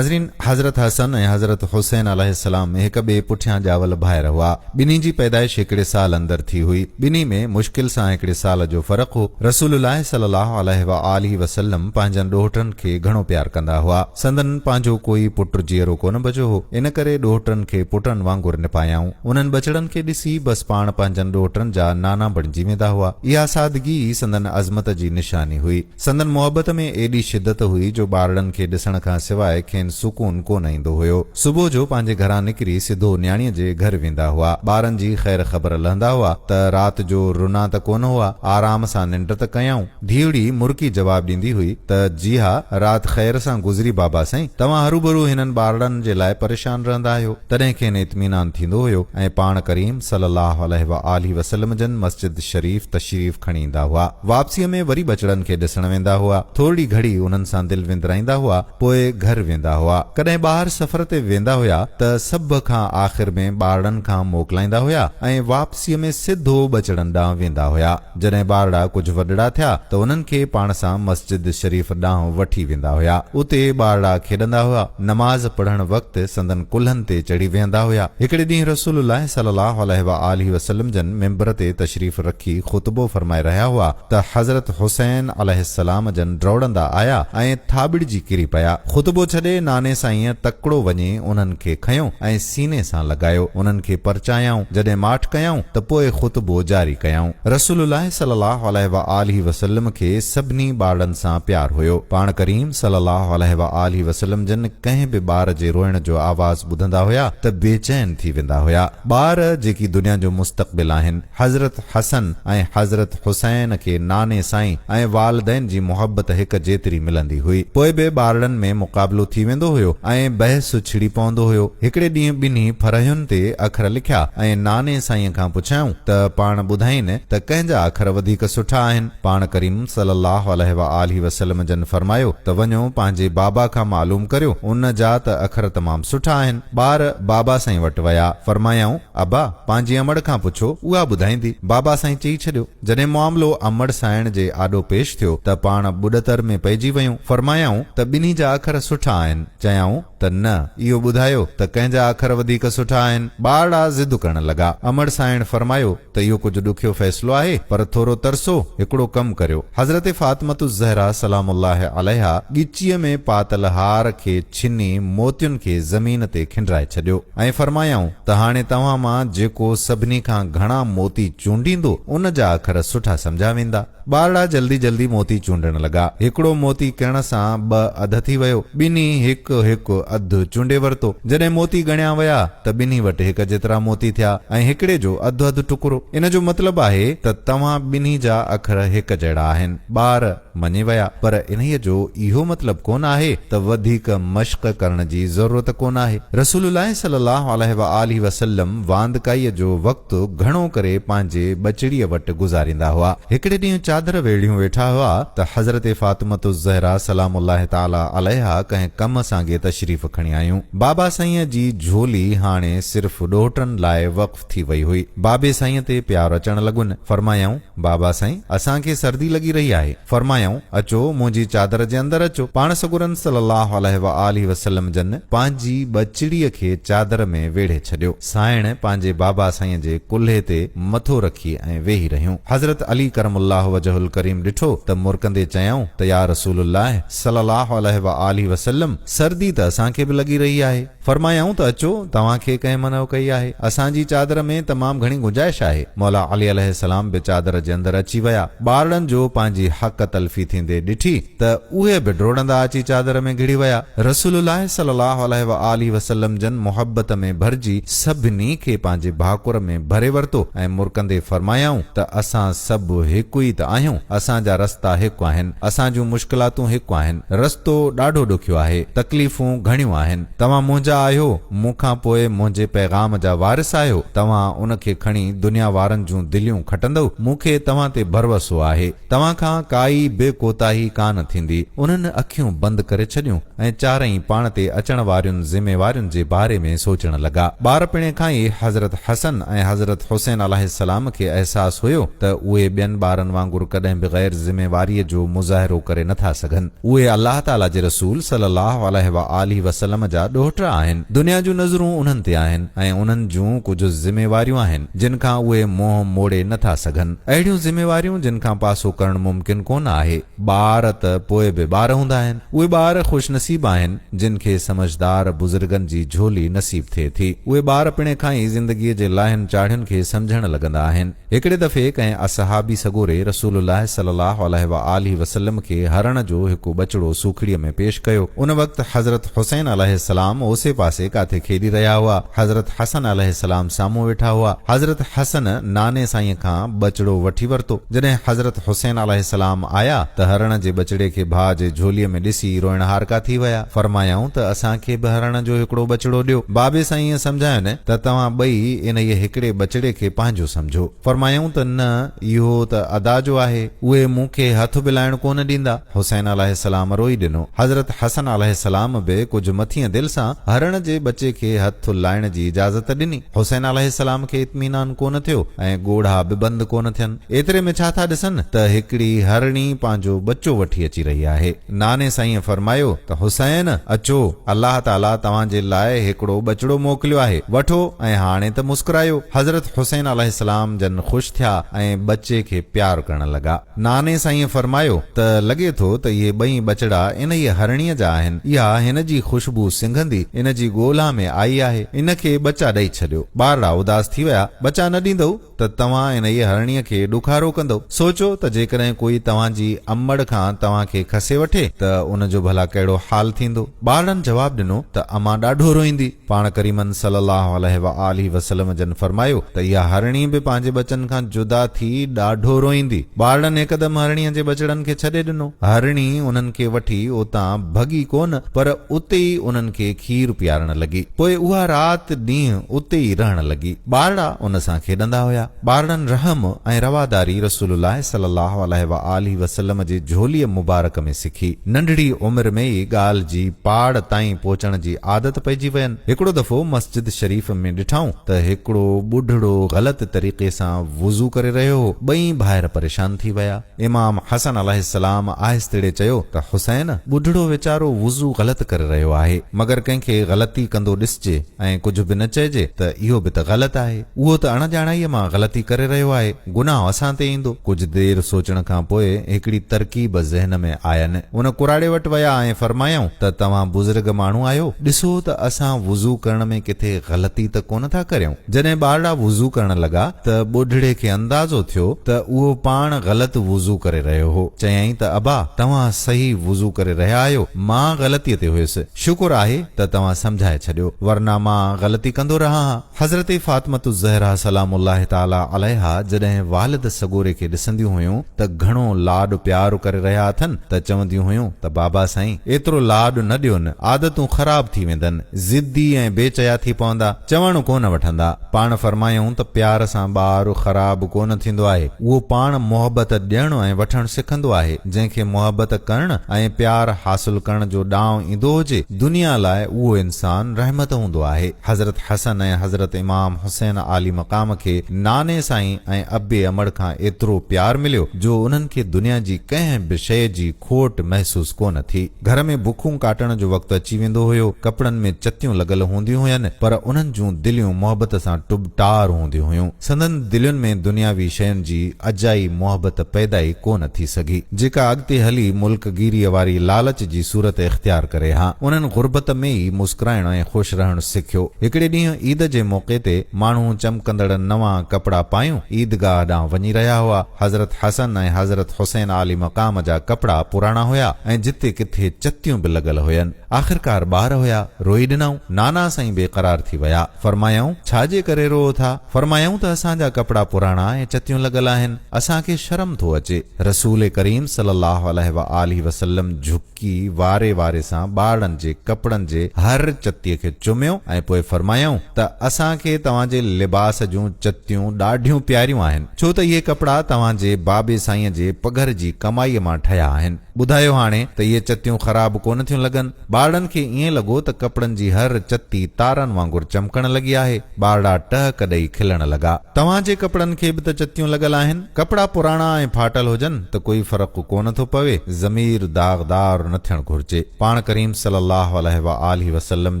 ناظرين! حضرت حسن ۽ حضرت حسين عليه السلام هڪ ٻئي پٺيان ڄاول ڀائر هئا. ٻنهي جي پيدائش هڪڙي سال اندر ٿي هئي. ٻنهي ۾ مشڪل سان هڪڙي سال جو فرق هو. رسول الله صلي الله عليه وآله وسلم پنهنجن ڏوهٽن کي گهڻو پيار ڪندا هئا. سندن پنهنجو ڪوئي پٽ جيئرو ڪونه بچو هو. ان ڪري ڏوهٽن کي پٽن وانگر نپايائون. انهن ٻچڙن کي ڏسي بس پاڻ پنهنجن ڏوهٽن جا نانا بڻجي ويندا هئا. اها سادگي ئي سندن عظمت جي نشاني هئي. سندن محبت ۾ ايڏي شدت هئي جو ٻارڙن کي ڏسڻ کان سواء کين سڪون ڪونه ايندو هيو. صبح جو پنهنجي گهران نڪري سڌو نياڻيء جي گهر ويندا هئا. ٻارن جي خير خبر لهندا هئا ته رات جو رنا ته ڪونه هئا، آرام سان ننڊ ته ڪيائون. ڌيئڙي مرڪي جواب ڏيندي هئي ته جي ها، رات خير سان گذري بابا سائين. توهان هروڀرو هنن ٻارڙن جي لاء پريشان رهندا آهيو. تڏهن کين اطمينان ٿيندو هيو ۽ پاڻ ڪريم صلي الله عليه وآله وسلم جن مسجد شريف تشريف کڻي ايندا هئا. واپسيء ۾ وري ٻچڙن کي ڏسڻ ويندا هئا. ٿورڙي گهڙي انهن سان دل وندرائيندا هئا، پوء گهر ويندا هئا. ڪڏهن ٻاهر سفر تي ويندا هيا ته سڀ کان آخر ۾ ٻارڙن کان موڪلائيندا هيا ۽ واپسيء ۾ سڌو ٻچڙن ڏانهن ويندا هيا. جڏهن ٻارڙا ڪجهه وڏڙا ٿيا ته انهن کي پاڻ سان مسجد شريف ڏانهن وٺي ويندا هيا. اتي ٻارڙا کيڏندا هيا. نماز پڙهڻ وقت سندن ڪلهن تي چڙهي ويهندا هيا. هڪڙي ڏينهن رسول الله صلي الله عليه وآله وسلم جن ممبر تي تشريف رکي خطبو فرمائي رهيا هئا ته حضرت حسين عليه السلام جن ڊوڙندا آيا ۽ ٿاٻڙجي ڪري پيا. خطبو ڇڏي ناني سائينء تڪڙو وڃي انهن کي کنيو ۽ سيني سان لڳايو. انهن کي پرچايائون. جڏهن ماٺ ڪيائون ته پوء خطبو جاري ڪيائون. رسول الله صلي الله عليه وآله وسلم کي سڀني ٻارڙن سان پيار هيو. پاڻ ڪريم صلي الله عليه وآله وسلم جن ڪنهن به ٻار جي روئڻ جو آواز ٻڌندا هيا ته بيچين ٿي ويندا هيا. ٻار جيڪي دنيا جو مستقبل آهن، حضرت حسن ۽ حضرت حسين کي ناني سائين ۽ والدين جي محبت هڪ جيتري ملندي هئي. پوء به ٻارڙن ۾ مقابلو ٿي ويندو هيو ۽ بحث ڇڙي پوندو هيو. هڪڙي ڏينهن ٻنهي ڦرهين تي اکر لکيا ۽ ناني سائينء کان پڇيائون ته پاڻ ٻڌائين ته ڪنهن جا اکر وڌيڪ سٺا آهن؟ پاڻ ڪريم صلّي الله عليه واٰله وسلّم جن فرمايو ته وڃو پنهنجي بابا کان معلوم ڪريو، ان جا ته اکر تمام سٺا آهن. ٻار بابا سائين وٽ ويا، فرمايائون، ابا! پنهنجي امڙ کان پڇو، اها ٻڌائيندي. بابا سائين چئي ڇڏيو. جڏهن معاملو امڙ سائڻ جي آڏو پيش ٿيو ته پاڻ ٻڏتر ۾ پئجي ويون. فرمايائون ته ٻنهي جا اکر سٺا آهن. چيائون ته نه، اهو ٻڌايو ته ڪنهن جا اکر وڌيڪ سٺا آهن. ٻارڙا ضد ڪرڻ لڳا. امڙ سائڻ فرمايو ته اهو ڪجهه ڏکيو فيصلو آهي، پر ٿورو ترسو، هڪڙو ڪم ڪريو، حضرت فاطمة الزهرا سلام الله عليها ڳچيء ۾ پاتل هار کي ڇني موتين کي زمين تي کنڊرائي ڇڏيو ۽ فرمايائون ته هاڻي توهان مان جيڪو سڀني کان گهڻا موتي چونڊيندو، ان جا اکر سٺا سمجهيا ويندا. ٻارڙا جلدي جلدي موتي چونڊڻ لڳا. هڪڙو موتي ڪڻ سان ٻه اڌ ٿي ويو. ٻنهي هڪ هڪ اڌ چونڊي ورتو. جڏهن موتي ڳڻيا ويا ته ٻنهي وٽ هڪ جيترا موتي ٿيا ۽ هڪڙي جو اڌ اڌ ٽڪرو. ان جو مطلب آهي ته توهان ٻنهي جا اکر هڪ جهڙا آهن. ٻار مڃي ويا. پر انهيء جو اهو مطلب ڪونه آهي ته وڌيڪ مشق ڪرڻ جي ضرورت ڪونه آهي. رسول الله صلي الله عليه وآله وسلم واندڪائيء جو وقت گهڻو ڪري پنهنجي ٻچڙيء وٽ گذاريندا هئا. هڪڙي ڏينهن چادر ويڙهيون ويٺا هئا ته حضرت فاطمة الزهراء سلام الله تعاليٰ عليها ڪنهن ڪم سانگي تشريف کڻي آيون. بابا سائينء جي جهولي هاڻي صرف ڏوهٽن لاء وقف ٿي وئي هئي. بابي سائينء تي پيار اچڻ لڳن. فرمايائون. بابا سائين! اسان کي سردي لڳي رهي آهي. فرمايائون، اچو، منهنجي چادر جي اندر اچو. پاڻ سڳورن صلّي اللّٰه عليه واٰله وسلّم جن پنهنجي ٻچڙيء کي چادر ۾ ويڙهي ڇڏيو. سانئڻ پنهنجي بابا سائينء جي ڪلهي تي مٿو رکي ۽ ويهي رهيون. حضرت علي ڪرم الله وجهه الڪريم ڏٺو ته مرڪندي چيائون ته يا رسول الله صلّي اللّٰه عليه واٰله وسلّم! سردي ته اسان کي به لڳي رهي آهي. فرمايائون ته اچو، توهان کي ڪنهن منع ڪئي آهي؟ اسان جي چادر ۾ تمام گهڻي گنجائش آهي. مولا علي عليه السلام به چادر جي اندر اچي ويا. ٻارڙن جو پنهنجي حق تلفي ٿيندي ڏٺي ته اهي به ڊوڙندا اچي چادر ۾ گهڙي ويا. رسول الله صلي الله عليه واٰله وسلم جن محبت ۾ ڀرجي سڀني کي پنهنجي ڀاڪر ۾ ڀري ورتو ۽ مرڪندي فرمايائون ته اسان سڀ هڪ ئي ته آهيون، اسان جا رستا هڪ آهن. اسان جون مشڪلاتون هڪ آهن. رستو ڏاڍو ڏکيو آهي. تڪليفون گهڻيون آهن. توهان منهنجا آهيو. مون کان پوء منهنجي پيغام جا وارث آهيو. توهان ان کي کڻي دنيا وارن جون دليون کٽندؤ. مون کي توهان تي ڀروسو آهي. توهان کان ڪائي به ڪوتاهي ڪانه ٿيندي. انهن اکيون بند ڪري ڇڏيون. ۽ چارئي پاڻ تي اچڻ وارين ذميوارين جي باري ۾ سوچڻ لڳا. ٻارپڻي کان ئي حضرت حسن ۽ حضرت حسين عليه السلام کي احساس هيو ته اهي ٻين ٻارن وانگر ڪڏهن به غير ذميواريء جو مظاهرو ڪري نه ٿا سگهن. اهي الله تعاليٰ جي رسول صلّي الله عليه واٰله وسلّم جا ڏوهٽا آهن. دنيا جون نظرون انهن تي آهن ۽ انهن جون ڪجهه ذميواريون آهن، جن کان اهي منهن موڙي نه ٿا سگهن. اهڙيون ذميواريون جن کان پاسو ڪرڻ ممڪن ڪونه آهي. ٻار ته پوء به ٻار هوندا آهن. اهي ٻار خوش نصيب آهن، جن کي سمجهدار بزرگن جي جهولي نصيب ٿئي ٿي. اهي ٻار پڻهين کان ئي زندگيء جي لاهين چاڙهين کي سمجهڻ لڳندا آهن. هڪڙي دفعي ڪنهن اصحابي سڳوري رسول الله صلي الله عليه وآله وسلم کي هرڻ جو هڪ ٻچڙو سوکڙيء ۾ پيش ڪيو. ان وقت حضرت حسين عليه السلام اوسي پاسي ڪاٿي کيڏي رهيا هئا. حضرت حسن عليه السلام سامهون ويٺا هئا. حضرت حسن ناني سائينء کان ٻچڙو وٺي ورتو. جڏهن حضرت حسين عليه السلام آيا ته هرڻ جي ٻچڙي کي ڀاء جي جهوليء ۾ ڏسي روئڻهارڪا ٿي ويا. فرمايائون ته اسان کي به هرڻ جو هڪڙو ٻچڙو ڏيو. بابي سائين ائين سمجهايون ته توهان ٻئي انهيء هڪڙي ٻچڙي کي پنهنجو سمجهو. فرمايائون ته نه اهو ته ادا جو آهي. اهي مون کي هٿ به لائڻ ڪونه ڏيندا. حسين عليه السلام روئي ڏنو. حضرت حسن عليه السلام به ڪجهه مٿيندل سان هرڻ جي ٻچي کي هٿ لائڻ جي اجازت ڏني. حسين عليه السلام کي اطمينان ڪونه ٿيو ۽ ڳوڙها به بند ڪونه ٿين. ايتري ۾ ڇا ٿا ڏسن ته هڪڙي هرڻي پنهنجو ٻچو وٺي اچي رهي آهي. ناني سائينء فرمايو ته حسين اچو، الله تعاليٰ توهان جي لاء هڪڙو ٻچڙو موڪليو آهي، وٺو ۽ هاڻي ته مسڪرايو. حضرت حسين عليه السلام جن خوش ٿيا ۽ ٻچي کي پيار ڪرڻ لڳا. ناني سائينء فرمايو ته لڳي ٿو ته اهي ٻئي ٻچڙا انهيء هرڻيء جا آهن. اها هن جي خوشبو سنگهندي ان جي ڳولها ۾ آئي آهي. ان کي ٻچا ڏئي ڇڏيو. ٻارڙا اداس ٿي ويا. ٻچا نه ڏيندؤ ته توهان انهيء هرڻيء کي ڏکارو ڪندؤ. سوچيو ته جيڪڏهن ڪوئي توهان جي امڙ کان توهان کي کسي وٺي ته ان جو ڀلا ڪهڙو حال ٿيندو. ٻارڙن جواب ڏنو ته امان ڏاڍو روئيندي. پاڻ ڪريمن صلّي الله عليه واٰله وسلّم جن فرمايو ته اها هرڻي به پنهنجي ٻچن کان جدا ٿي ڏاڍو روئيندي. ٻارڙن هڪدم هرڻيء جي ٻچڙن کي ڇڏي ڏنو. هرڻي انهن کي وٺي اتان ڀڳي ڪونه پر اتي ئي انهن کي کير پيارڻ لڳي. پوء اها رات ڏينهن اتي ئي رهڻ لڳي. ٻارڙا ان سان کيڏندا هيا. ٻارڙن رحم ۽ رواداري رسول الله صلي الله عليه وآله وسلم جي جھوليء مبارڪ ۾ سکي. ننڍڙي عمر ۾ ئي ڳالهه جي پاڙ تائين پهچڻ جي عادت پئجي وين. هڪڙو دفعو مسجد شريف ۾ ڏٺائون ته هڪڙو ٻڍڙو غلط طريقي سان وضو ڪري رهيو هو. ٻئي ڀائر پريشان ٿي ويا. امام حسن عليه السلام آهستڙي چيو ته حسين! ٻڍڙو ويچارو وضو غلط ڪري رهيو آهي، مگر ڪنهن کي غلطي ڪندو ڏسجي ۽ ڪجهه به نه چئجي ته اهو به ته غلط آهي. اهو ته اڻڄاڻائيء مان غلطي ڪري رهيو آهي، گناهه اسان تي ايندو. ڪجهه دير سوچڻ کان پوء هڪڙي ترڪيب ذهن ۾ آين. ان ڪراڙي وٽ ويا ۽ فرمايائون ته توهان بزرگ ماڻهو آهيو، ڏسو ته اسان وضو ڪرڻ ۾ ڪٿي غلطي ته ڪونه ٿا ڪريون. جڏهن ٻارڙا وضو ڪرڻ لڳا ته ٻڍڙي کي اندازو ٿيو ته اهو پاڻ غلط وضو ڪري رهيو هو. چيائين ته ابا توهان صحيح وضو ڪري رهيا آهيو، مان غلطيء تي هيس. شڪر آهي ته توهان سمجهائي ڇڏيو، ورنه مان غلطي ڪندو رهان ها. حضرت فاطمة الزهرا سلام الله تعالٰي عليها جڏهن والد سڳوري کي ڏسنديون هيون ته گهڻو لاڏ پيار ڪري رهيا اٿن ته چونديون هيون ته بابا سائين ايترو لاڏ نه ڏيون، عادتون خراب ٿي ويندن، ضدي ۽ بي چيا ٿي پوندا. چوڻ ڪونه وٺندا. پاڻ فرمايائون ته پيار سان ٻار خراب ڪونه ٿيندو آهي. اهو پاڻ محبت ڏيڻ ۽ وٺڻ سکندو آهي. جنهن کي محبت ڪرڻ ۽ پيار حاصل ڪرڻ جو ڏانء ايندو هجي، دنيا لاء اهو انسان رحمت هوندو آهي. حضرت حسن ۽ حضرت امام حسين عالي مقام کي ناني سائين ۽ ابي امڙ کان ايترو پيار مليو جو انهن کي دنيا جي ڪنهن به شيء جي کوٽ محسوس ڪونه ٿي. گهر ۾ بکون ڪاٽڻ جو وقت اچي ويندو هيو، ڪپڙن ۾ چتيون لڳل هونديون هين، پر انهن جون دليون محبت سان ٽب ٽار هونديون هيون. سندن دلين ۾ دنياوي شين جي اجائي محبت پيدا ئي ڪو نه ٿي سگهي، جيڪا اڳتي هلي ملڪ گيريء واري لالچ جي صورت اختيار ڪري ها. انهن غربت ۾ ئي مسڪرائڻ ۽ خوش رهڻ سکيو. هڪڙي ڏينهن عيد جي موقعي تي ماڻهو چمڪندڙ نوان ڪپڙا پايون عيدگاهه ڏانهن وڃي رهيا هئا. حضرت حسن ۽ حضرت حسين عالي مقام جا ڪپڙا پراڻا هيا ۽ جتي ڪٿي چتيون به لڳل هين. آخرڪار ٻار هيا، روئي ڏنائون. نانا سائين بي قرار ٿي ويا. فرمايائون، ڇا جي ڪري روئو ٿا؟ فرمايائون ته اسان جا ڪپڙا پراڻا ۽ چتيون لڳل آهن. اسان کي شرم ٿو اچي. رسول ڪريم صلي الله عليه وآله وسلم جهڪي. ڪي واري واري سان ٻارڙن جي ڪپڙن جي هر چتيء کي چميو ۽ پوء فرمايائون ته اسان کي توهان جي لباس جون چتيون ڏاڍيون پياريون آهن، ڇو ته اهي ڪپڙا توهان جي بابي سائينء جي پگهر جي ڪمائيء مان ٺهيا آهن. ٻڌايو هاڻي ته اهي چتيون خراب ڪونه ٿيون لڳن؟ ٻارڙن کي ائين لڳو ته ڪپڙن جي هر چتي تارن وانگر چمڪڻ لڳي آهي. ٻارڙا ٽهڪ ڏئي کلڻ لڳا. توهان جي ڪپڙن کي به ته چتيون لڳل آهن. ڪپڙا پراڻا ۽ ڦاٽل هجن ته ڪوئي فرق ڪو نه ٿو پوي. ضمير داغدار نه ٿيڻ گهرجي. پاڻ ڪريم صلي الله عليه واٰله وسلم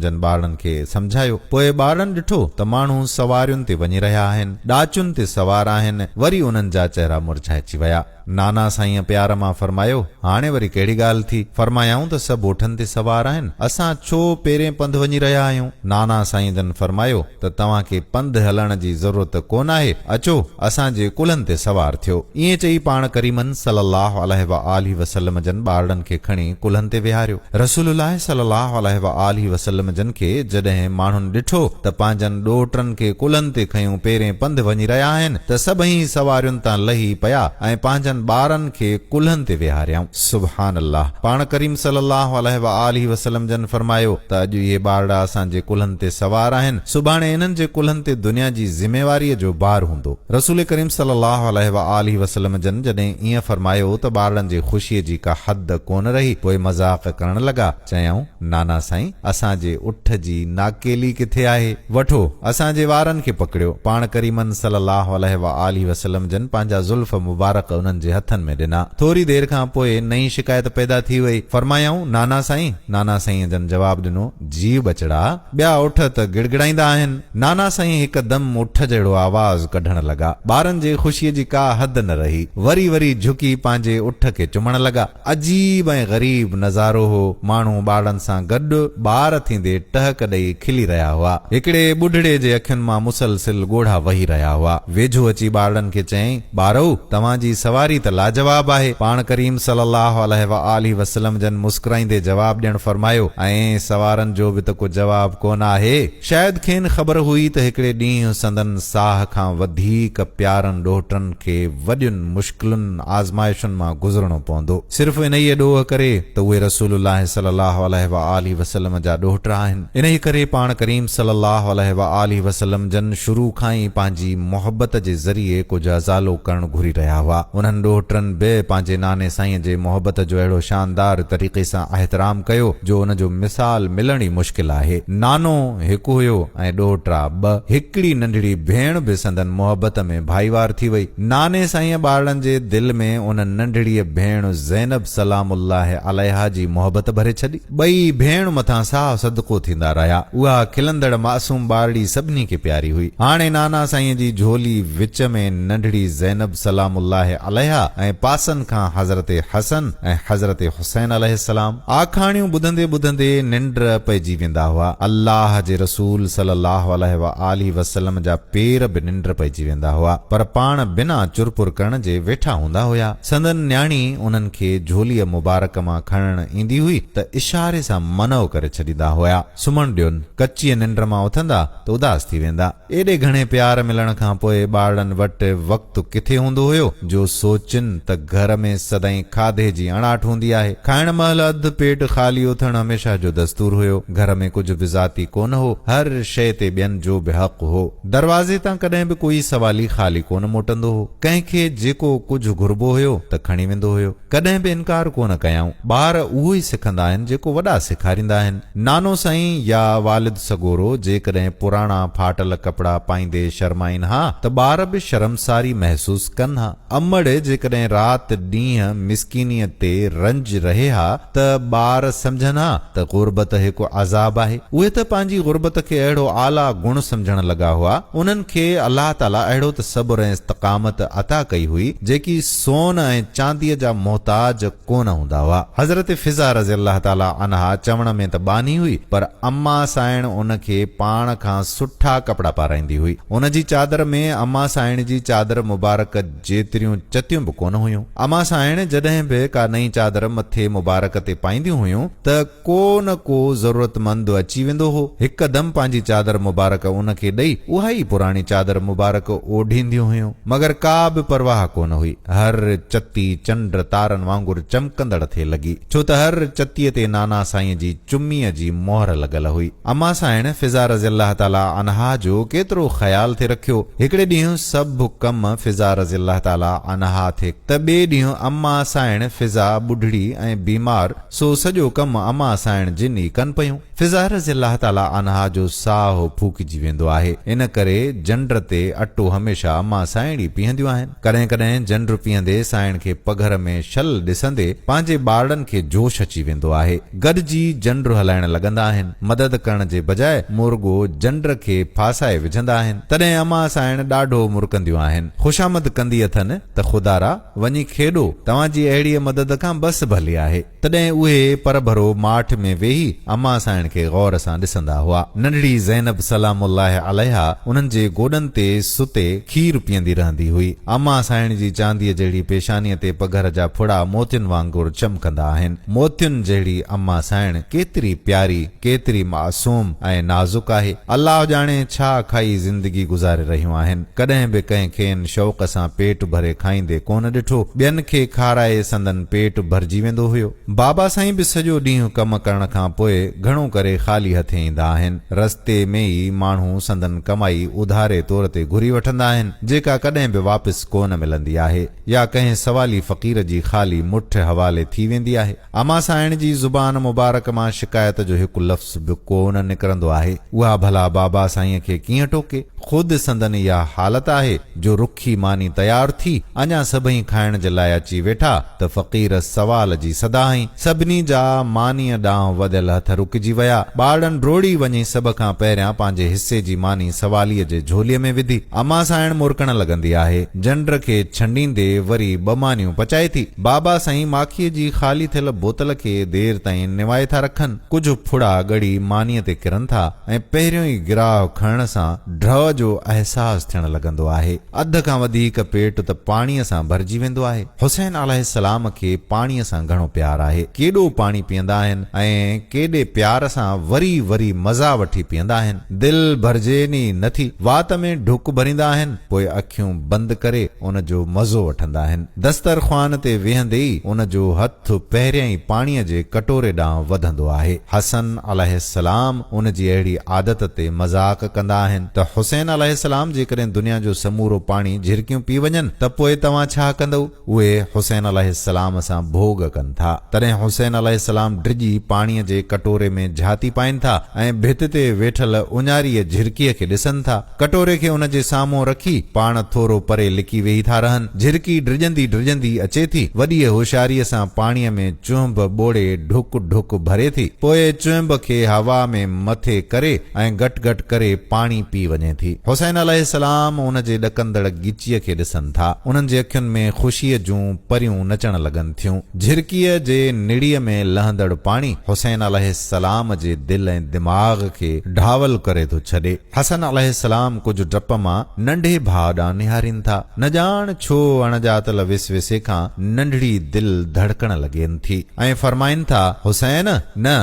جن ٻارڙن کي سمجهايو. پوء ٻارڙن ڏٺو ته ماڻهو سوارين تي وڃي رهيا آهن. ڏاچن تي سوار آهن. وري انهن جا چهرا مرجهائجي ويا. نانا سائينء پيار مان فرمايو، هاڻي وري ڪهڙي ڳالهه ٿي؟ فرمايائون ته سڀ اٺن تي سوار آهن، اسان ڇو پيرين پنڌ وڃي رهيا آهيون؟ نانا سائين جن فرمايو ته توهان کي پنڌ هلڻ جي ضرورت ڪونه آهي، اچو اسان جي ڪلهن تي سوار ٿيو. ائين چئي پاڻ ڪريمن صلّي اللّٰه عليه واٰله وسلّم جن ٻارڙن کي کڻي ڪلهن تي ويهاريو. رسول الله صلي الله عليه وآله وسلم جن کي جڏهن ماڻهن ڏٺو ته پنهنجن ڏوهٽن کي ڪلهن تي کنيون پيرين پنڌ وڃي رهيا آهن ته سڀئي سوارين تان لهي پيا ۽ پنهنجن ٻارن کي ڪلهن تي ويهاريائون. سبحان الله! پاڻ ڪريم صلي الله عليه وآله وسلم جن فرمايو ته اڄ اهي ٻارڙا اسان جي ڪلهن تي سوار آهن، سڀاڻي انهن جي ڪلهن تي دنيا جي ذميواريء جو بار هوندو. رسول ڪريم صلّي اللّٰه عليه واٰله وسلّم جن جڏهن ائين فرمايو ته ٻارڙن جي خوشيء جي ڪا حد ڪونه رهي، پوء مذاق ڪرڻ لڳا، چيائون، نانا سائين! اسان جي اٺ جي ناڪيلي ڪٿي آهي؟ وٺو، اسان جي وارن کي پڪڙيو. پاڻ ڪريمن صلّي اللّٰه عليه واٰله وسلّم جن پنهنجا زلف مبارڪ انهن جي هٿن ۾ ڏنا. ٿوري دير کان پوء نئين شڪايت پيدا ٿي وئي. فرمايائون، نانا سائين! نانا سائينء جن جواب ڏنو. جي ٻچڙا، ٻيا اٺ ته گڙگڙائيندا آهن. نانا سائين هڪدم اٺ جهڙو آواز ڪڍڻ لڳا. ٻارن جي خوشيء جي ڪا حد نه رهي. وري وري جهڪي پنهنجي اٺ کي چمڻ لڳا. عجيب ۽ غريب نظارو هو. ماڻهو ٻارڙن سان گڏ ٻار ٿيندي ٽهڪ ڏئي کلي رهيا هئا. هڪڙي ٻڍڙي جي اکين مان مسلسل ڳوڙها وهي رهيا هئا. ويجهو اچي ٻارڙن کي چيائين. ٻارؤ! توهان جي سواري ته لاجواب آهي. پاڻ ڪريم صلّي اللّٰه عليه واٰله وسلّم جن مسڪرائيندي جواب ڏيڻ فرمايو، ائين سوارن جو به ته ڪو جواب ڪونه آهي. شايد کين خبر هئي ته هڪڙي ڏينهن سندن ساهه کان وڌيڪ پيارن ڏوهٽن کي وڏين مشڪلن آزمائشن مان گذرڻو پوندو. صرف انهيء ڏوهه ڪري ته اهي رسول الله صلي الله عليه وآله وسلم جا ڏوهٽڙا آهن. انهيء ڪري پاڻ ڪريم صلي الله عليه وآله وسلم جن شروع کان ئي پنهنجي محبت جي ذريعي ڪجهه ازالو ڪرڻ گهري رهيا هئا. انهن ڏوهٽڙن به پنهنجي ناني سائينء جي محبت جو اهڙو شاندار طريقي سان احترام ڪيو جو ان جو مثال ملڻ ئي مشڪل آهي. نانو هڪ هيو ۽ ڏوهٽڙا ٻه. هڪڙي ننڍڙي ڀيڻ به سندن محبت ۾ ڀائيوار ٿي وئي. ناني سائينء ٻارڙن جي دل ۾ ان ننڍڙيء ڀيڻ زينب سلام الله عليها جي محبت ڀري ڇڏي. ٻئي ڀيڻ مٿان ساهه صدقو ٿيندا رهيا. اها کلندڙ معصوم ٻارڙي سڀني کي پياري هئي. هاڻي نانا سائينء جي جهولي وچ ۾ ننڍڙي زينب سلام الله عليها ۽ پاسن کان حضرت حسن ۽ حضرت حسين عليه السلام. آکاڻيون ٻڌندي ٻڌندي ننڊ پئجي ويندا هئا. الله جي رسول صلي الله عليه وآله وسلم جا پير به ننڊ پئجي ويندا هئا، پر پاڻ بنا چرپر ڪرڻ جي ويٺا هوندا هيا. سندن نياڻي انهن کي جهوليء مبارڪ مان کڻڻ ايندي هئي ته اشاري سان منع ڪري ڇڏيندا هيا. سمهڻ ڏين. ڪچيء ننڊ مان اٿندا ته اداس ٿي ويندا. ايڏي گهڻي پيار ملڻ کان پوء ٻارڙن وٽ وقت ڪٿي هوندو هيو جو سوچين ته گهر ۾ سدائين کاڌي جي اڻاٺ هوندي آهي. کائڻ مهل اڌ پيٽ خالي اٿڻ هميشه جو دستور هيو. گهر ۾ ڪجهه به ذاتي ڪونه هو. هر شيء تي ٻين جو به حق هو. دروازي تان ڪڏهن به ڪوئي سوالي خالي ڪونه موٽندو هو. ڪنهن کي جيڪو ڪجهه گهربو هيو ته کڻي ويندو هيو. ڪڏهن به انڪار ڪونه ڪيائون. ٻار اهو ئي سکندا آهن جيڪو وڏا سيکاريندا آهن. نانو سائين يا والد سڳورو جيڪڏهن پراڻا ڦاٽل ڪپڙا پائيندي شرمائين ها ته ٻار به شرمساري محسوس ڪن ها. امڙ جيڪڏهن رات ڏينهن مسڪينيء تي رنج رهي ها ته ٻار سمجهن ها ته غربت هڪ عذاب آهي. اهي ته پنهنجي غربت کي اهڙو اعليٰ گڻ سمجهڻ لڳا هئا. انهن کي الله تعاليٰ اهڙو ته صبر ۽ استقامت عطا ڪئي هئي، جيڪي سون ۽ چانديء جا محتاج، ڪونه هوندا هئا. حضرت فضه رضي الله تعالٰي عنها چوڻ ۾ ته ٻانهي هئي پر اما سائڻ ان کي پاڻ کان سٺا ڪپڙا پارائيندي هئي. ان جي چادر ۾ اما سائڻ جي چادر مبارڪ جيتريون چتيون به ڪونه هيون. اما سائڻ جڏهن به ڪا نئين چادر مٿي مبارڪ تي پائينديون هيون ته. ڪو نه ڪو ضرورتمند اچي ويندو هو، هڪدم پنهنجي چادر مبارڪ ان کي ڏئي، اها ئي پراڻي چادر مبارڪ اوڍينديون هيون، مگر ڪا به پرواهه ڪو نه هئي. هر چتي چنڊ تارن وانگر چمڪندڙ ٿي لڳي، ڇو ته هر چتيء تي نانا سائينء جي چميء جي مهر لڳل هئي. امان سانئڻ فضا رضي الله تعاليٰ عنها جو ڪيترو خيال ٿي رکيو، هڪڙي ڏينهن سڀ ڪم فضا رضي الله تعاليٰ عنها ٿي ته ٻئي ڏينهن امان سانئڻ فضا ٻڍڙي ۽ بيمار، سو سڄو ڪم اما سائڻ جن ئي ڪن پيون. فضا رضي الله تعاليٰ عنها جو ساهه ڦوڪجي ويندو آهي. ان ڪري جنڊ تي اٽو هميشه اما سائڻ ئي پيهنديون آهن. ڪڏهن ڪڏهن جنڊ پيهندي سائڻ کي پگهر ۾ شل ڏسندي پنهنجي ٻارڙن کي جوش اچي ويندو آهي. گڏجي جنڊ هلائڻ لڳندا آهن. مدد ڪرڻ جي بجاء مون رڳو جنڊ کي ڦاسائي وجهندا آهن. تڏهن اما سائڻ ڏاڍو مرڪنديون آهن. خوشامد ڪندي اٿن ته خدارا! وڃي کيڏو، توهان جي اهڙيء مدد کان بس ڀلي آهي. تڏهن اهي پرڀرو ماٺ ۾ ويهي امان سائڻ کي غور سان ڏسندا هئا. ننڍڙي زينب سلام الله عليها انهن جي گوڏن تي ستي کير پيئندي رهندي هئي. امان سائڻ جي چانديء جهڙي پيشانيء تي پگهر جا ڦڙا موتين وانگر چمڪندا آهن. موتين جهڙي امان سائڻ ڪيتري پياري! ڪيتري معصوم ۽ نازڪ آهي. الله ڄاڻي ڇا کائي زندگي گذاري رهيون آهن. ڪڏهن به ڪنهن کين شوق سان پيٽ ڀري کائيندي ڪونه ڏٺو. ٻين کي کارائي سندن پيٽ ڀرجي ويندو هيو. بابا سائين به سڄو ڏينهن ڪم ڪرڻ کان پوء گهڻو ڪري خالي هٿين ايندا آهن. رستي ۾ ئي ماڻهو سندن ڪمائي اڌاري طور تي گهري وٺندا آهن، جيڪا ڪڏهن به واپس ڪونه ملندي آهي. يا ڪنهن سوالي فقير جي خالي مٺ حوالي ٿي ويندي آهي. اما سائڻ جي زبان مبارڪ مان شڪايت جو هڪ لفظ به ڪو نه نڪرندو آهي. اها ڀلا بابا سائينء کي ڪيئن ٽوڪي. خود سندن اها حالت آهي جو رکي ماني تيار ٿي، اڃا سڀئي کائڻ جي لاء اچي ويٺا ته فقير سوال جي صدا هنئي. سڀني جا مانيء ڏانهن وڌل هٿ رڪجي ويا. ٻارڙن ڊوڙي وڃي سڀ کان پهريان پنهنجي حصي جي ماني سواليء جي جهوليء ۾ وڌي. امان سانئڻ مرڪڻ لڳندي آهي. جنڊ کي ڇنڊيندي وري ٻه مانيون پچائي ٿي. بابا سائين ماکيء جي خالي ٿيل بوتل کي دير تائين نوائي ٿا رکن. ڪجهه ڦڙا ڳڙي مانيء تي ڪرن ٿا ۽ پهريون ئي گراهه کڻڻ سان ڊهه جو احساس ٿيڻ لڳندو آهي. اڌ کان وڌيڪ پيٽ ته پاڻيء سان ڀرجي ويندو آهي. حسين عليه السلام کي پاڻيء سان گهڻو پيار آهي. ڪيڏو پاڻي پيئندا آهن ۽ ڪيڏي پيار سان وري وري مزا وٺي پيئندا آهن. دل ڀرجين ئي نه ٿي. وات ۾ ڍڪ ڀريندا آهن، پوء اکيون بند ڪري ان جو مزو وٺندا آهن. دسترخوان تي ويهندي ئي ان جو هٿ پهريائين پاڻيء جي ڪٽوري ڏانهن وڌندو آهي. حسن عليه السلام ان جي اهڙي عادت تي مذاق ڪندا آهن ته حسين عليه السلام جيڪڏهن دنيا جو سمورو پاڻي جهرڪيون پي وڃن ته پوء توهان ڇا ڪندؤ؟ اهي حسين عليه السلام سان ڀوڳ ڪن ٿا. تڏهن حسين عليه السلام ڊڄي پاڻيء جي ڪٽوري ۾ جهاتي پائين ٿا ۽ ڀت تي ويٺل اڃاريء جهرڪيء کي ڏسن ٿا. ڪٽوري کي ان جي سامهون رکي، پاڻ ٿورو پري لڪي ويهي ٿا رهن. جهرڪي ڊڄندي ڊڄندي اچي ٿي. وڏيء هوشياريء سان پاڻيء ۾ چونڀ ٻوڙي ڍڪ ڍڪ ڀري ٿي. پوء چونڀ کي هوا ۾ مٿي ڪري ۽ گٽ گٽ ڪري پاڻي پي وڃي ٿي. حسين عليه السلام ان جي ڏڪندڙ ڳچيء کي ڏسن ٿا. انهن جي اکين ۾ خوشيء جون پريون نچڻ لڳن ٿيون. جهرڪيء جي نڙيء ۾ لهندڙ پاڻي حسين عليه السلام جي دل ۽ دماغ کي ڍاول ڪري ٿو ڇڏي. حسن عليه السلام ڪجهه ڊپ مان ننڍي ڀاء ڏانهن نهارين ٿا. نه ڄاڻ ڇو اڻڄاتل وسوسي کان ننڍڙي دل ڌڙڪڻ لڳين ٿي ۽ فرمائين ٿا، حسين! نه!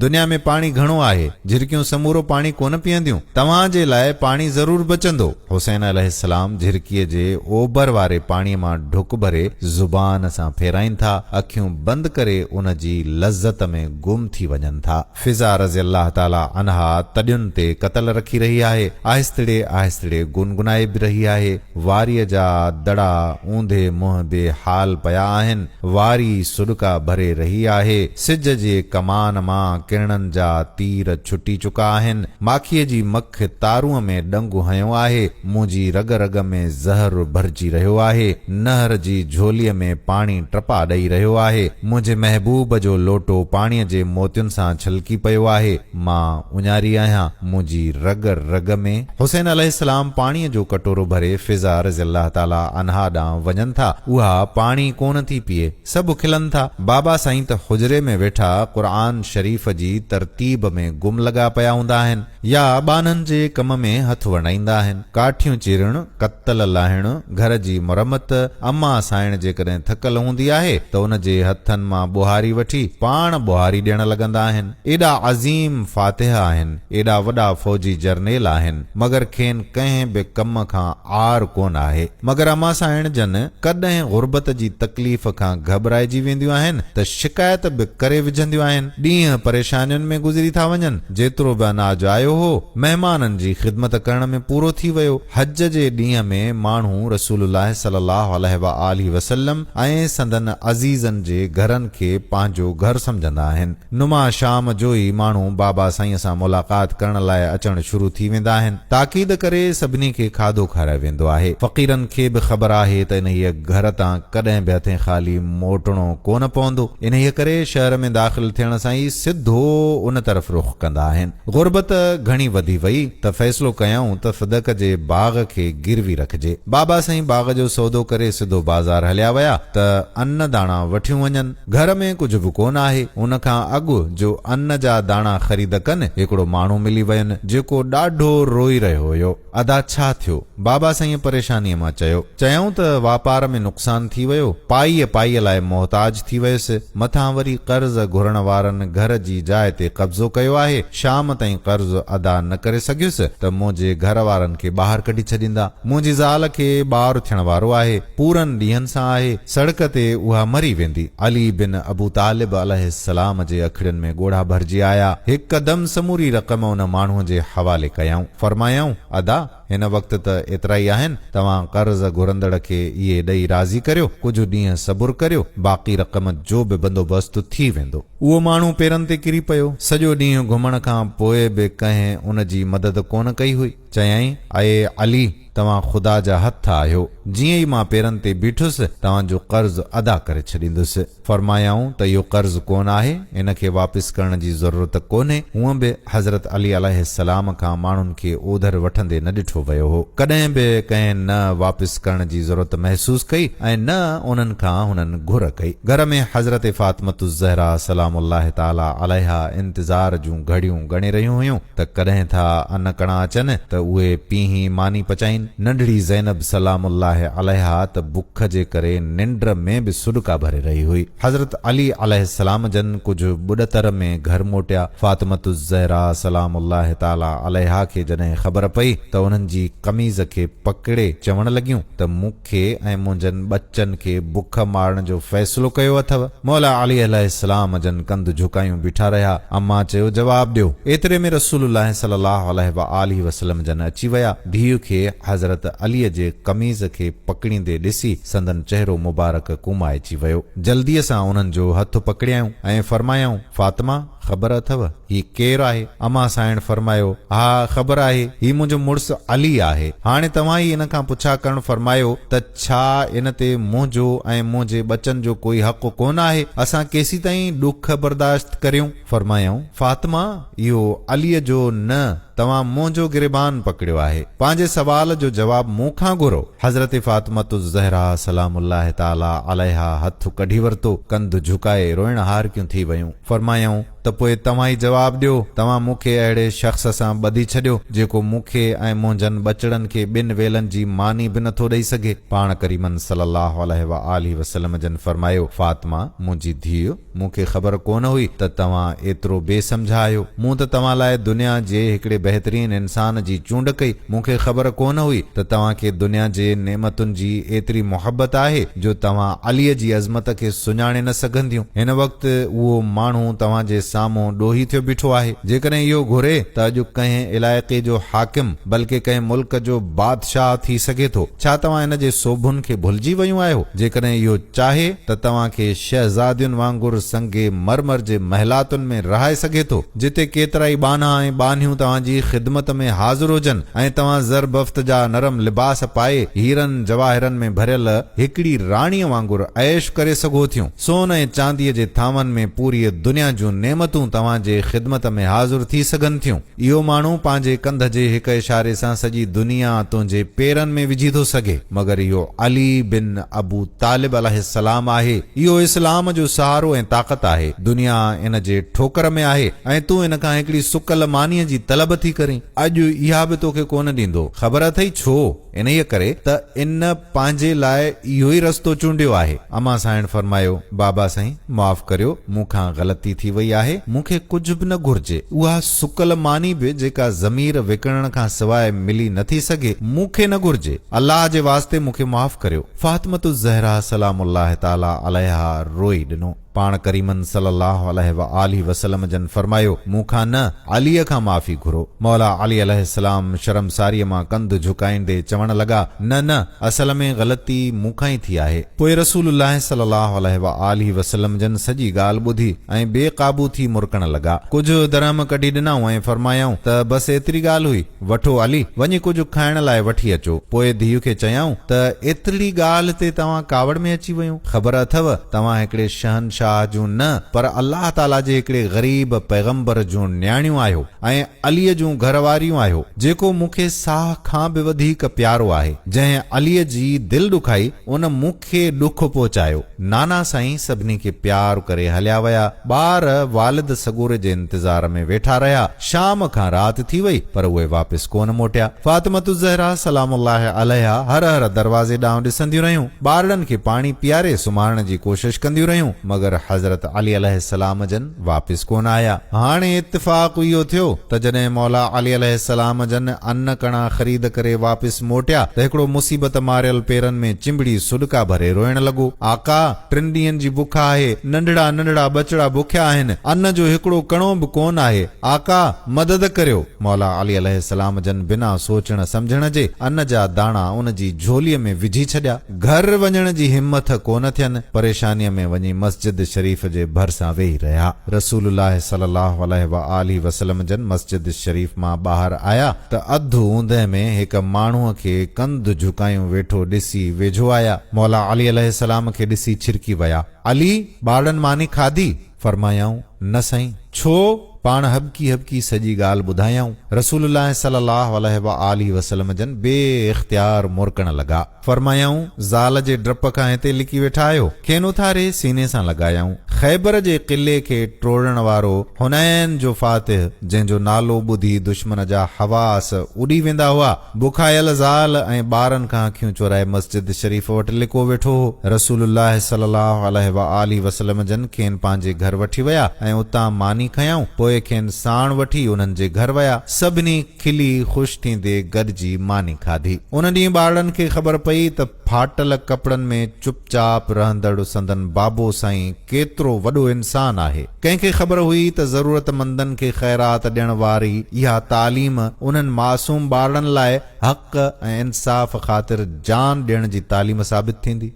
دنيا ۾ پاڻي گهڻو آهي، جهرڪيون سمورو پاڻي ڪونه پيئنديون، توهان جي لاء پاڻي ضرور بچندو. حسين عليه السلام جهرڪيء جي اوڀر واري پاڻيء مان ڍڪ ڀري زبان سان ڦيرائين ٿا، اکيون بند ڪري ان جي لذت ۾ گم ٿي وڃن ٿا. فضا رضي الله تعالٰي عنها تڏين تي قتل رکي رهي آهي، آهستڙي آهستڙي گنگنائي به رهي آهي. واريء جا دڙا اونڌي منهن بي حال پيا آهن. واري سڏڪا ڀري رهي آهي. سج جي ڪمان مان ڪرڻن جا تير ڇٽي چڪا آهن. ماکيء جي مک تارونء ۾ ڏنگ هنيو آهي. منهنجي رڳ رڳ ۾ زهر ڀرجي رهيو آهي، نهر جي جهولي ۾ پاڻي ٽپا ڏئي رهيو آهي، منهنجي محبوب جو لوٽو پاڻي جي موتين سان ڇلڪي پيو آهي، مان اڃاري آهيان، منهنجي رڳ رڳ ۾. حسين عليه السلام پاڻي جو ڪٽورو ڀري فضا رضي الله تعالٰي عنها ڏانهن وڃن ٿا، اها پاڻي ڪونه ٿي پيئي، سڀ کلن ٿا، بابا سائين ته حجري ۾ ويٺا قرآن شريف جي ترتيب ۾ گم لڳا پيا هوندا آهن. يا ٻانهن جي ڪم ۾ هٿ ورنائيندا آهن. ڪاٺيون چيرڻ، ڪتل لاهڻ، گهر جي مرمت، اما سانئڻ جيڪڏهن ٿڪل هوندي آهي ته ان جي هٿن مان ٻوهاري وٺي پاڻ ٻوهاري ڏيڻ لڳندا آهن. ايڏا عظيم فاتح آهن، ايڏا وڏا فوجي جرنيل آهن، مگر کين ڪنهن به ڪم کان عار ڪونه آهي. مگر اما سانئڻ جن ڪڏهن غربت جي تڪليف کان گهٻرائجي وينديون آهن ته شڪايت به ڪري وجهنديون آهن. ڏينهن پريشانين ۾ گذري ٿا وڃن. جيترو به اناج آيو هو، مهمانن جي خدمت ڪرڻ ۾ پورو ٿي ويو. حج جي ڏينهن ۾ ماڻهو رسول الله صلي الله عليه وآله وسلم ۽ سندن عزيزن جي گهرن کي پنهنجو گهر سمجهندا آهن. نما شام جو ئي ماڻهو بابا سائينء سان ملاقات ڪرڻ لاء اچڻ شروع ٿي ويندا آهن. تاڪيد ڪري سڀني کي کاڌو کارايو ويندو آهي. فقيرن کي به خبر آهي ته انهيء گهر تان ڪڏهن به هٿين خالي موٽڻو ڪونه پوندو. انهيء ڪري شهر ۾ داخل ٿيڻ سان ئي سڌو ان طرف رخ ڪندا آهن. غربت گهڻي وڌي وئي ته فيصلو ڪيائون ته صدق جي باغ کي گروي رکجي. بابا سائين باغ جو سودو ڪري سڌو بازار هليا ويا ته ان داڻا وٺيون وڃن. گهر ۾ ڪجهه به ڪونه آهي. ان کان اڳ جو ان جا داڻا خريد ڪن، هڪڙو ماڻهو ملي وين، جيڪو ڏاڍو روئي رهيو هيو. ادا ڇا ٿيو؟ بابا سائينء پريشانيء مان چيو. چيائون ته واپار ۾ نقصان ٿي ويو، پائيء پائيء لاء محتاج ٿي ويس، مٿان وري قرض گهرڻ وارن گهر جي جاء تي قبضو ڪيو آهي، شام تائين قرض ادا نه ڪري سگهيس ته منهنجي گهر وارن کي ٻاهر ڪڍي ڇڏيندا، منهنجي زال کي ٻار ٿيڻ وارو آهي. پورن ڏينهن سان آهي، سڙڪ تي اها مري ويندي. علي بن ابو طالب عليه السلام جي اکڙين ۾ ڳوڙها ڀرجي آيا، هڪدم سموري رقم ان ماڻهوء جي حوالي ڪيائون، فرمايائون، ادا! هن وقت ته ايترائي آهن، توهان قرض گهرندڙ کي اهي ڏئي راضي ڪريو، ڪجهه ڏينهن صبر ڪريو، باقي رقم جو به بندوبست ٿي ويندو. اهو ماڻهو پيرن تي ڪري پيو، سڄو ڏينهن گهمڻ کان پوء به ڪنهن ان جي مدد ڪونه ڪئي هئي، چيائين، اي علي! توهان خدا جا هٿ آهيو، جيئن ئي مان پيرن تي بيٺس، توهان جو قرض ادا ڪري ڇڏيندس. فرمايائون ته اهو قرض ڪونه آهي، ان کي واپس ڪرڻ جي ضرورت ڪونهي، هونئن به حضرت علي عليه السلام کان ماڻهن کي اوڌر وٺندي نه ڏٺو ويو هو، ڪڏهن به ڪنهن نه واپس ڪرڻ جي ضرورت محسوس ڪئي ۽ نه انهن کان هنن گهر ڪئي. گهر ۾ حضرت فاطمة الزهراء سلام الله تعالٰي عليها انتظار جون گهڙيون ڳڻي رهيون هيون، ته ڪڏهن ٿا انڪڻا اچن ته اهي پيهين ماني پچائين. ننڍڙي زينب سلام الله عليها ته بک جي ڪري ننڊ ۾ به سڏڪا ڀري رهي هئي. حضرت علي عليه السلام جن ڪجهه ٻڏتر ۾ گهر موٽيا. فاطمة الزهراء سلام الله تعالٰي عليها کي جڏهن خبر پئي ته انهن جي قميض کي پڪڙي چوڻ لڳيون ته مون کي ۽ منهنجن ٻچن کي بک مارڻ جو فيصلو ڪيو اٿو؟ مولا علي عليه السلام جن ڪنڌ جهڪايون بيٺا رهيا. امان چيو، جواب ڏيو. ايتري ۾ رسول الله صلي الله عليه وآله وسلم جن اچي ويا. ڌيء کي حضرت علي جي قميص کي پڪڙيندي ڏسي سندن چهرو مبارڪ ڪومائجي ويو. جلديء سان انهن جو هٿ پڪڙيائون ۽ فرمايائون، فاطمه! خبر اٿو هي ڪير آهي؟ امان سانئڻ فرمايو، ها خبر آهي، هي منهنجو مڙس علي آهي. هاڻي توهان ئي ان کان پڇا ڪرڻ فرمايو ته ڇا ان تي منهنجو ۽ منهنجي ٻچن جو ڪوئي حق ڪونه آهي؟ اسان ڪيسيتائين ڏک برداشت ڪريون؟ فرمايائون، فاطمه! اهو عليء جو نه، توهان منهنجو گريبان پڪڙيو آهي. پنهنجي سوال جو جواب مون کان گهرو. حضرت فاطمة الزهراء سلام الله تعالٰي عليها هٿ ڪڍي ورتو، ڪنڌ جهڪائي روئڻ هارڪيون ٿي ويون. فرمايائون ته پوء توهان ئي جواب ڏيو، توهان مون کي اهڙي شخص سان ٻڌي ڇڏيو، جيڪو مون کي ۽ منهنجن ٻچڙن کي ٻن ويلن جي ماني به نٿو ڏئي سگهي. پاڻ ڪريما صلّي الله عليه واٰله وسلّم جن فرمايو، فاطمه، منهنجي ڌيء، مون کي خبر ڪونه هئي ته توهان ايترو بي سمجهه آهيو. مون ته توهان لاء دنيا جي هڪڙي بهترين انسان جي چونڊ ڪئي، مون کي خبر ڪونه هئي ته توهان کي دنيا جي نعمتن جي ايتري محبت آهي جو توهان عليء جي عظمت کي سڃاڻي نه سگهنديون. هن وقت اهو ماڻهو توهان جي سامهون ڏوهي ٿيو بيٺو آهي. جيڪڏهن اهو گهري ته اڄ ڪنهن علائقي جو حاڪم بلڪه ڪنهن ملڪ جو بادشاهه ٿي سگهي ٿو. ڇا توهان هن جي سوڀن کي ڀلجي ويون آهيو؟ جيڪڏهن اهو. چاهي ته توهان کي شهزادين وانگر سنگ مرمر جي محلاتن ۾ رهائي سگهي ٿو، جتي ڪيترائي ٻانها ۽ ٻانهيون توهان جي خدمت ۾ حاضر هجن ۽ توهان زربفت جا نرم لباس پائي، هيرن جواهرن ۾ ڀريل هڪڙي راڻيء وانگر عيش ڪري سگهو ٿيون. سون ۽ چانديء جي ٿانون ۾ پوريء دنيا جون نعمتون توهان جي خدمت ۾ حاضر ٿي سگهن ٿيون. اهو ماڻهو پنهنجي ڪنڌ جي هڪ اشاري سان سڄي دنيا تنهنجي پيرن ۾ وجهي ٿو سگهي، مگر اهو علي بن ابو طالب عليه السلام آهي، اهو اسلام جو سهارو ۽ طاقت آهي، دنيا ان جي ٺوڪر ۾ آهي ۽ تون ان کان هڪڙي سڪل مانيء جي طلب ٿي ڪرين، اڄ اها به توکي ڪونه ڏيندو، خبر اٿئي ڇو؟ انهيء ڪري ته ان پنهنجي لاء اهو ئي رستو چونڊيو آهي. امان سانئڻ فرمايو، بابا سائين! معاف ڪريو، مون کان غلطي ٿي وئي آهي. مون کي ڪجهه به نه گهرجي. اها سڪل ماني به جيڪا ضمير وڪڻڻ کان سواء ملي نه ٿي سگهي، مون کي نه گهرجي. الله جي واسطي مون کي معاف ڪريو. فاطمة الزهراء سلام الله تعالٰي عليها روئي ڏنو. پاڻ ڪريمن صلّي اللّٰه عليه واٰله وسلّم جن فرمايو، مون کان نه، عليء کان معافي گهرو. مولا علي عليه السّلام شرمساريء مان ڪنڌ جهڪائيندي چوڻ لڳا، نه نه، اصل ۾ غلطي مون کان ئي ٿي آهي. پوء رسول الله صلّي اللّٰه عليه واٰله وسلّم جن سڄي ڳالهه ٻڌي ۽ بي قابو ٿي مرڪڻ لڳا. ڪجهه درهم ڪڍي ڏنائون ۽ فرمايائون ته بس ايتري ڳالهه هئي. وٺو علي، وڃي ڪجهه کائڻ لاء وٺي اچو. پوء ڌيء کي چيائون ته ايترڙي ڳالهه تي توهان ڪاوڙ ۾ اچي ويون. خبر اٿئو، توهان هڪڙي شهنشاهه جون نه پر الله تعاليٰ جي هڪڙي غريب پيغمبر جون نياڻيون آهيو ۽ عليء جون گهر واريون آهيو، جيڪو مون کي ساهه کان به وڌيڪ پيارو آهي. جنهن عليء جي دل ڏکائي، ان مون کي ڏک پهچايو. نانا سائين سڀني کي پيار ڪري هليا ويا. ٻار والد سڳوري جي انتظار ۾ ويٺا رهيا. شام کان رات ٿي وئي پر اهي واپس ڪونه موٽيا. فاطمة الزهرا سلام الله عليها هر هر دروازي ڏانهن ڏسنديون رهيون. ٻارڙن کي پاڻي پياري سمهارڻ جي ڪوشش ڪنديون رهيون مگر حضرت علي عليه السلام جن. واپس ڪونه آيا. هاڻي اتفاق اهو ٿيو ته جڏهن مولا علي عليه السلام جن ان ڪڻا خريد ڪري واپس موٽيا ته هڪڙو مصيبت ماريل پيرن ۾ چنبڙي سڏڪا ڀري روئڻ لڳو، آقا! ٽن ڏينهن جي بک آهي، ننڍڙا ننڍڙا ٻچڙا بکيا آهن، ان جو هڪڙو ڪڻو به ڪونه آهي، آقا! مدد ڪريو. مولا علي عليه السلام جن بنا سوچڻ سمجهڻ جي ان جا داڻا ان جي جهوليء ۾ وجهي ڇڏيا. گهر وڃڻ جي همٿ ڪونه ٿين، پريشانيء ۾ وڃي مسجد شريف جي ڀرسان ويهي رهيا. رسول الله صلي الله عليه وآله وسلم جن مسجد شريف مان ٻاهر آيا ته اڌ اوندهه ۾ هڪ ماڻهوء کي ڪنڌ جهڪايون ويٺو ڏسي ويجهو آيا، مولا علي عليه السلام کي ڏسي ڇرڪي ويا، علي! ٻارڙن ماني کاڌي؟ فرمايائون، نه سائين! ڇو؟ پاڻ هٻڪي هٻڪي سڄي ڳالهه ٻڌايائون. رسول الله صلي الله عليه وآله وسلم جن بي اختيار مرڪڻ لڳا. فرمايائون، زال جي ڊپ کان هتي لڪي ويٺا آهيو؟ کين اٿاري سيني سان لڳايائون. خيبر جي قلعي کي ٽوڙڻ وارو حنين جو فاتح، جنهن جو نالو ٻڌي دشمن جا حواس اڏي ويندا هئا، بکايل زال ۽ ٻارن کان اکيون چورائي مسجد شريف وٽ لڪو ويٺو هو. رسول الله صلي الله عليه واٰله وسلم جن کين پنهنجي گهر وٺي ويا ۽ اتان ماني کنيائون، پوء کين ساڻ وٺي انهن جي گهر ويا. سڀني کلي خوش ٿيندي گڏجي ماني کاڌي. ان ڏينهن ٻارڙن کي خبر پئي ته ڦاٽل ڪپڙن ۾ چپ چاپ رهندڙ سندن بابو سائين ڪيترو وڏو انسان آهي. ڪنهن کي خبر هئي ته ضرورتمندن کي خيرات ڏيڻ واري اها تعليم انهن معصوم ٻارڙن لاء حق ۽ انصاف خاطر جان ڏيڻ جي تعليم ثابت ٿيندي؟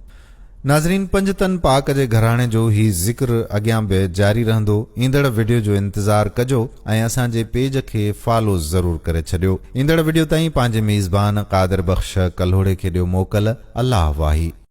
ناظرين پنجتن پاڪ جي گهراڻي جو هي ذڪر اڳيان به جاري رهندو ايندڙ وڊيو جو انتظار ڪجو ۽ اسان جي پيج کي فالو ضرور ڪري ڇڏيو ايندڙ وڊيو تائين پنهنجي ميزبان قادر بخش ڪلهوڙي کي ڏيو موڪل الله واهي.